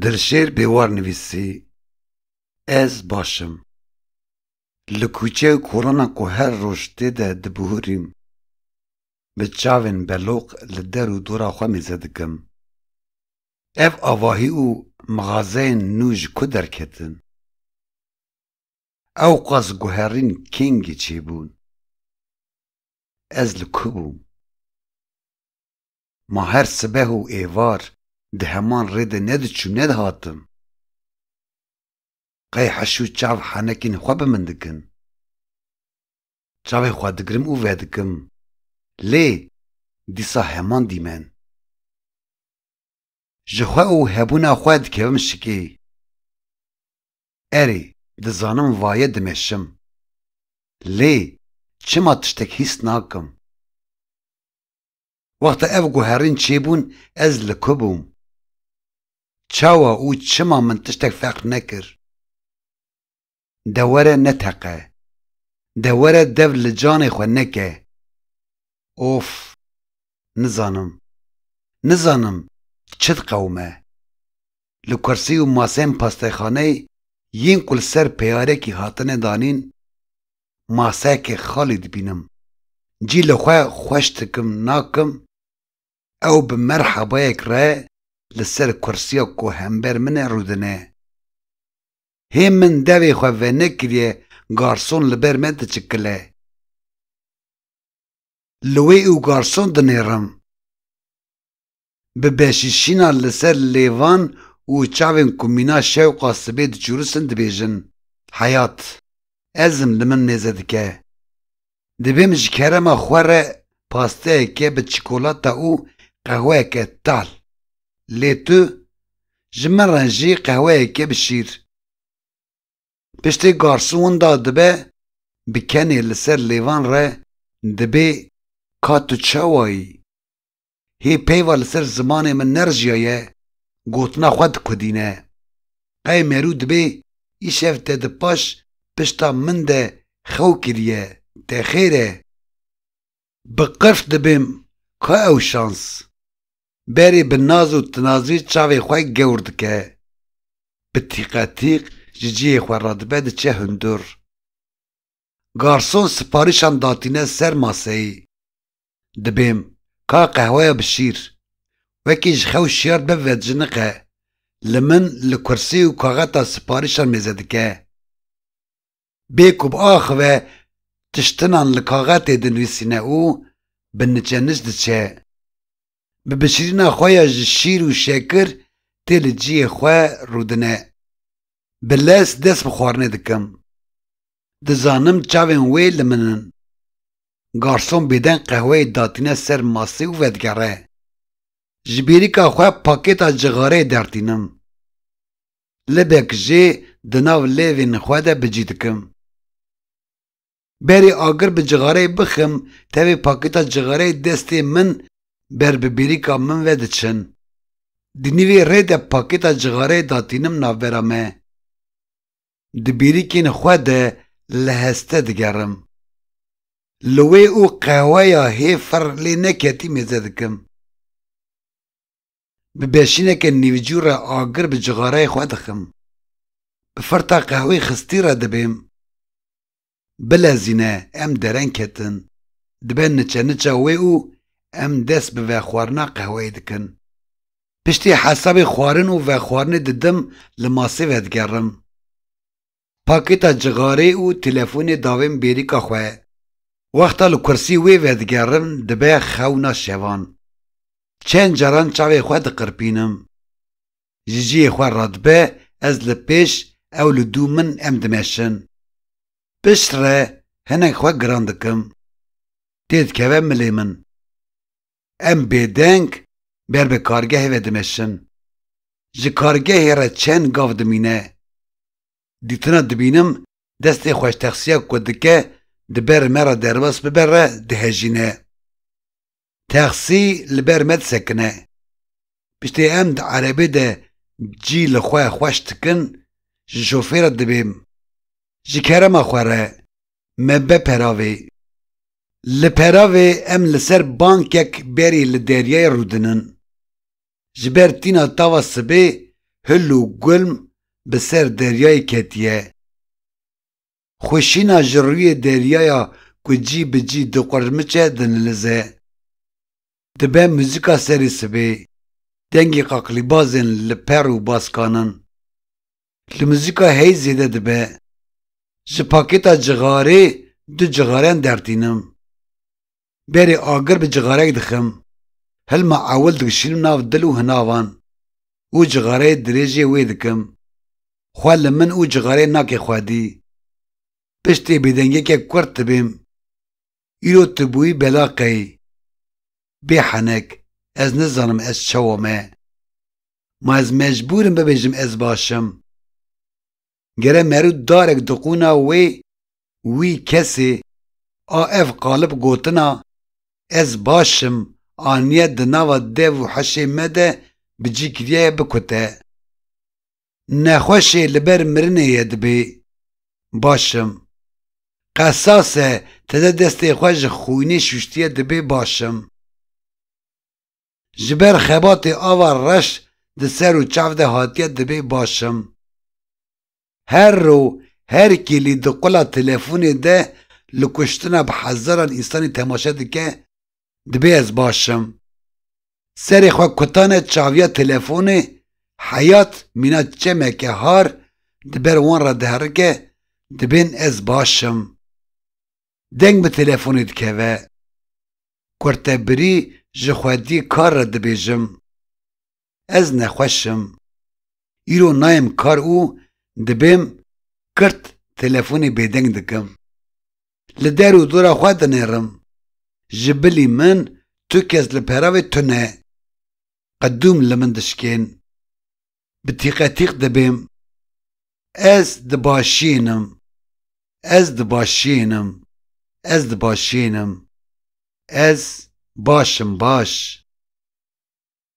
Dilşêr Bêwar nivîsî, Ez baş im. Li kûçe û kolana ku her roj tê de dibihurîm, bi çavên beloq li der û dora xwe mêze dikim. Ev avahî û mixazeyên nû ji ku derketin? Ewqas guherîn kengî çêbûn. Ez li ku bûm? Ma her sibeh û êvar di heman rê de nediçûm nedihatim. Qey heş û çav henekên xwe bi min dikin. Çavên xwe digirim û vedikim. Lê dîsa heman dîmen. Ji xwe û hebûna xwe dikevim şikê. Erê, dizanim vaye dimeşim. Lê çima tiştek hîs nakim? Wexta ev guherîn çêbûn ez li ku bûm? Çawa û çima min tiştek fehm nekir? De were neteqe. De were dev li canê xwe neke. Of! Nizanim. Nizanim çi diqewime. Li kursî û masên pastexaneyê yên ku li ser peyarekî hatine danîn maseyekê xalî dibînim. Cî li xwe xweş dikim nakim, ew bi merhebayek re li ser kursiya ku hember min e rûdine. Hê min devê xwe venekiriye garson li ber me diçikile. Li wê û garson dinêrim. Bi beşîşîna li ser lêvan û çavên ku mîna şewqa sibê diçûrisin dibêjin, Heyat, ezm li min nêze dike. Divêm ji kerema xwe re pasteyeke bi çikolata û qehweyeke tal. Lê tu, ji min re jî qehweyeke bi şîr. Piştî garsûn winda dibe, bi kenê li ser lêvan re dibê, Ka tu çawa yî? Hê peyva li ser zimanê min nerjiyaye gotina xwe dikudîne. Qey mêrû dibê îşev te di paş pişta min de xew kiriye, te xêr e? Bi qirf dibim ka ew şans. Berê bi naz û tinazî çavê xwe gewr dike. Bi tîqetîq ji cihê xwe radibe diçe hundur. Garson siparîşan datîne ser maseyê. Dibêm, ka qehweya bi şîr. Wekî ji xew şiyar dibe vedijiniqe, li min li kursî û kaxeta siparîşan mêze dike. Bê ku biaxive tiştinan li kaxetê dinivîsîne û bi niçe niç diçe. bi bişirîna xwe ya ji şîr û şekir tê li ciyê xwe rûdine. Bi lez dest bi xwarinê dikim. Dizanim çavên wê li min in. Garson bêdeng qehweyê datîne ser masê û vedigere. Ji bêrîka xwe pakêta cixareyê dertînim. Libek jê di nav lêvên xwe de bi cî dikim. Berê agir bi cixareyê bixim, tevê pakêta cixareyê destê min ber bi bêrîka min ve diçin. Di nîvê rê de pakêta cixareyê datînim navbera me. Di bêrîkên xwe de li heste digerim. Li wê û qehweya hê fir lê neketî mêze dikim. Bi beşîneke nîvcû re agir bi cixareyê xwe dixim. Bi firta qehwî xistî re dibêm. Bilezîne em dereng ketin. Dibe niçe niça wê û em dest bi vexwarina qehweyê dikin. Piştî hesabê xwarin û vexwarinê didim li masê vedigerim. Pakêta cixarê û telefonê davên bêrîka xwe. Wexta li kursî wê vedigerim dibe xewna şevan. Çend caran çavê xwe diqirpînim. Ji cihê xwe radibe ez li pêş ew li dû min em dimeşin. Piştre hinek xwe giran dikim. Têdikeve milê min. Em bêdeng ber bi kargehê ve dimeşin. Ji kargehê re çend gav dimîne. Dîtina dibînim destê xweştexsiya ku dike di ber me re derbas bibe re dihejîne. Texsî li ber me disekine. Piştî em di erebê de cî li xwe xweş dikin, ji şofêra dibêm. Ji kerema xwe re me be peravê. Li peravê em li ser bankek berî li deryayê rûdinin. Ji ber tîna tava sibê hil û gulm bi ser deryayê ketiye. Xwişîna ji rûyê deryaya ku cî bi cî diqurmiçe dinilize. Dibe muzîka serî sibê, dengê qaqlîbazên li per û baskan in. Li muzîka heyî zêde dibe. Ji pakêta cixarê du cixareyan dertînim. Berê agir bi cixarek dixim. Hilma ewil dikişînim nav dil û hinavan û cixareyê dirêjê wê dikim. Xwe li min û cixareyê nake xwedî. Piştê bêdengiyeke kurt dibêm. Îro tu bûyî bela qey. Bê henek, ez nizanim ez çawa me. Ma ez mecbûr im bibêjim ez baş im. Gere merû darek diqûna wê, wî, kesê, a ev qalib gotina, ez baş im, aniye di nava dev û heşê me de bi cî kiriyaye bikute. Nexweşê li ber mirinê ye dibê. Baş im. Qesas e tede destê xwe ji xwînê şûştiye dibê baş im. Ji ber xebatê ava reş di ser û çav de hatiye dibê baş im. Her ro her kîlî di qula telefonê de li kuştina bi hezaran însanê temaşe dike dibê ez baş im. Serê xwe kutane çaviya telefonê Heyat mîna çemeke har di ber wan re diherike Dibên ez baş im. Deng bi telefonê dikeve. Kurtebirî ji xwedî kar re dibêjim. ez nexweş im. Îro nayêm kar û dibêm kirt telefonê bêdeng dikim. Li der û dora xwe dinêrim. Ji bilî min tu kes li peravê tune. Qedûm li min dişkên. Bi tîqetîq dibêm. Ez di başiyên im. Ez di başiyên im. Ez di başiyên im. Ez baş im baş.